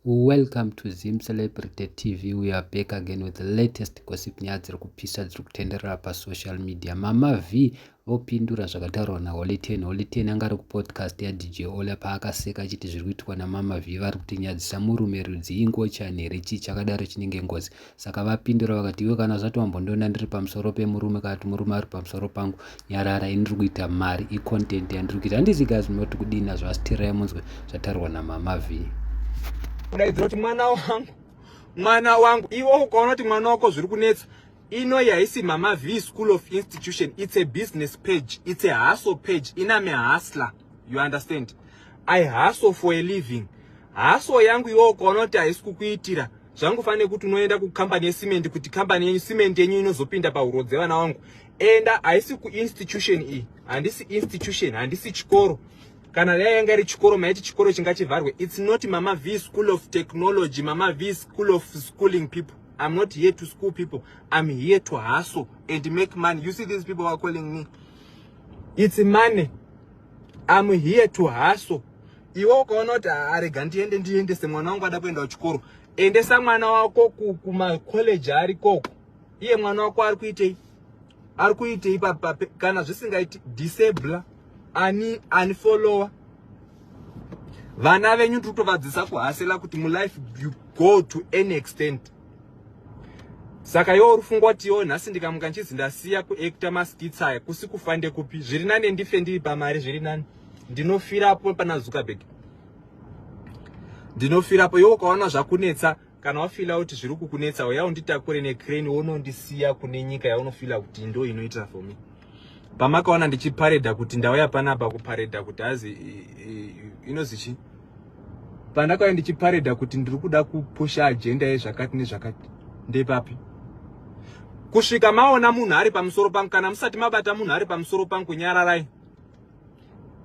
Welcome to Zim Celebrity TV. We are back again with the latest gossip nyaya dziri kupisa dziri kutenderera pasocial media. Mama V vopindura zvakataurwa naHoly Ten. Holy Ten anga ari kupodcast yaDJ Ola paakaseka achiti zviri kuitwa naMama V vari kutinyadzisa murume rudzii ngochani here chii chakadaro chinenge ngozi. Saka vapindura vakati, iwe kana zvati wambondiona ndiri pamusoro pemurume kana kuti murume ari pamusoro pangu, nyarara ini ndiri kuita mari, icontent yandiri kuita. Handisi guys munoti kudii nazvo asi tirai munzwe zvataurwa namama V. Kudaidzira kuti mwana wangu, mwana wangu, iwe ukaona kuti mwana wako zviri kunetsa ino yaisi mama v school of institution it's a business page it's a hustle page iname hustler you understand i hustle for a living hustle yangu iwo ukaona kuti haisi kukuitira zvangofanira nekuti unoenda kukambani yecement kuti kambani yenyu cement yenyu inozopinda pahuro dzevana wangu enda haisi kuinstitution iyi handisi institution handisi chikoro kana dai yanga iri chikoro maiti chikoro chinga chivharwe its not mama v school of technology mama v school of schooling people i'm not here to school people i'm here to hustle and make money you see these people are calling me its money I'm here to hustle. Iwe ukaona kuti arega ndiende ndiendese mwana wangu ada kuenda kuchikoro. Endesa mwana wako kuma college ari koko. Iye mwana wako ari kuitei? Ari kuitei papa kana zvisingaiti disable ani ani follower. Vana venyu tiri kutovadzisa kuhasela kuti mu life you go to any extent. saka iwo uri fungwa kuti iwo nhasi ndikamuka ndichizi ndasiya kuacta maskits aya kusi kufa ndekupi zviri nani ndife ndiri pamari zviri nani ndinofirapo pana zuckerberg ndinofirapo iwo ukaona zvakunetsa kana wafila kuti zviri kukunetsa uya unditakure necrane wonondisiya kune nyika yaunofila kuti ndo inoitira for me pamakaona ndichiparedha kuti ndauya panapa kuparedha kuti hazi inozi chii pandakauya ndichiparedha kuti ndiri kuda kupusha ajenda yezvakati nezvakati ndepapi kusvika maona munhu ari pamusoro pangu kana musati mabata munhu ari pamusoro pangu nyararai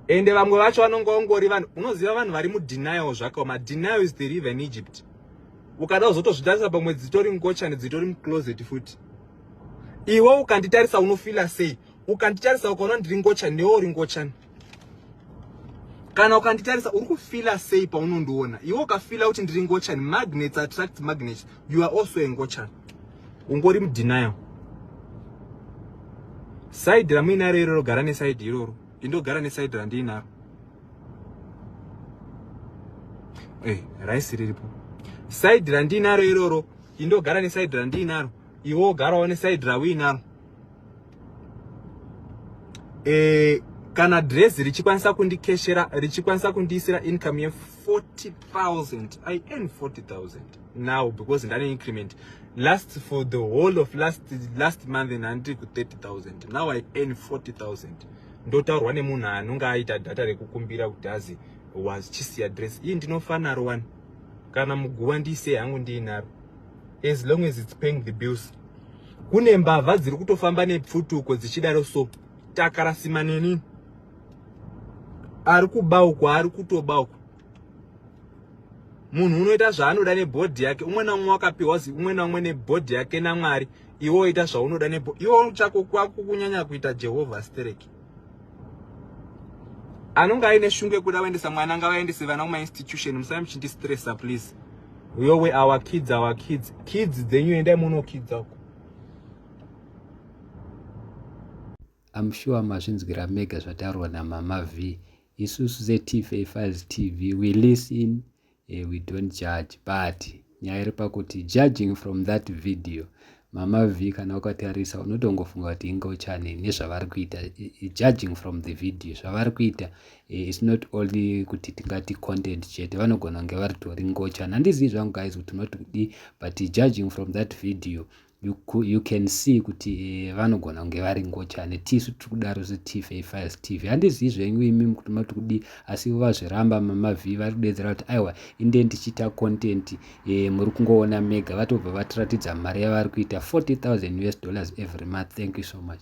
ende vamwe vacho vanonge vangori vanhu unoziva vanhu vari mudenial zvakaoma denial is the river in egypt ukada kuzotozvitarisa pamwe dzitori ngochani dzitori mucloset futi iwe ukanditarisa unofila sei ukanditarisa ukaona ndiri ngochani newe uri ngochani kana ukanditarisa uri kufila sei paunondiona iwe ukafila kuti ndiri ngochani magnets attract magnets you are also a ngochani ungori mudenial saidi ramuinaro iroro gara nesaidi iroro indogara nesaidi randiinaro hey, eh, raisi riripo saidi randiinaro iroro indogara nesaidi randiinaro iwe wogara one side rawina eh kana dress richikwanisa kundikeshera richikwanisa kundiisira income ye 40000 i earn 40000 now because ndane increment last for the whole of last last month ndandiri ku 30000 now i earn 40000 ndotaurwa nemunhu anonge aita data rekukumbira kuti azi was chisiya dress iyi ndinofanaro wani kana muguva ndiisei hangu ndiinaro as long as it's paying the bills kune mbavha dziri kutofamba nepfutuko dzichidaro so takarasima neni ari kubauko ari kutobauko munhu unoita zvaanoda nebhodhi yake umwe naumwe wakapiwa umwe naumwe nebhodhi yake namwari iwe oita zvaunoda nebhodhi iwe chako kwakukunyanya kuita jehovha stereki anonge aine shungu yekuda kuendesa mwana ngavaendese vana kumainstitution musai muchindistressa please yowe our kids our kids kids dzenyu endai munokidza uko am sure mazvinzwira mega zvataurwa namama v isusu setifa files tv we listen Hey, we don't judge but nyaya iri pakuti judging from that video mama v kana ukatarisa unotongofunga kuti inga uchane nezvavari kuita judging from the video zvavari kuita eh, its not only kuti tingati content chete vanogona kunge varitori ngochani handizivi zvangu guys kuti unoti kudii but judging from that video you, you can see kuti eh, vanogona kunge vari ngochani tisu tiri kudaro setv5 tv handizivi zvenyu imi kuti mati kudii asi vazviramba mamavhii vari kudedzera kuti aiwa inde ndichiita content eh, muri kungoona mega vatobva vatiratidza mari yavari kuita 40000 us dollars every month thank you so much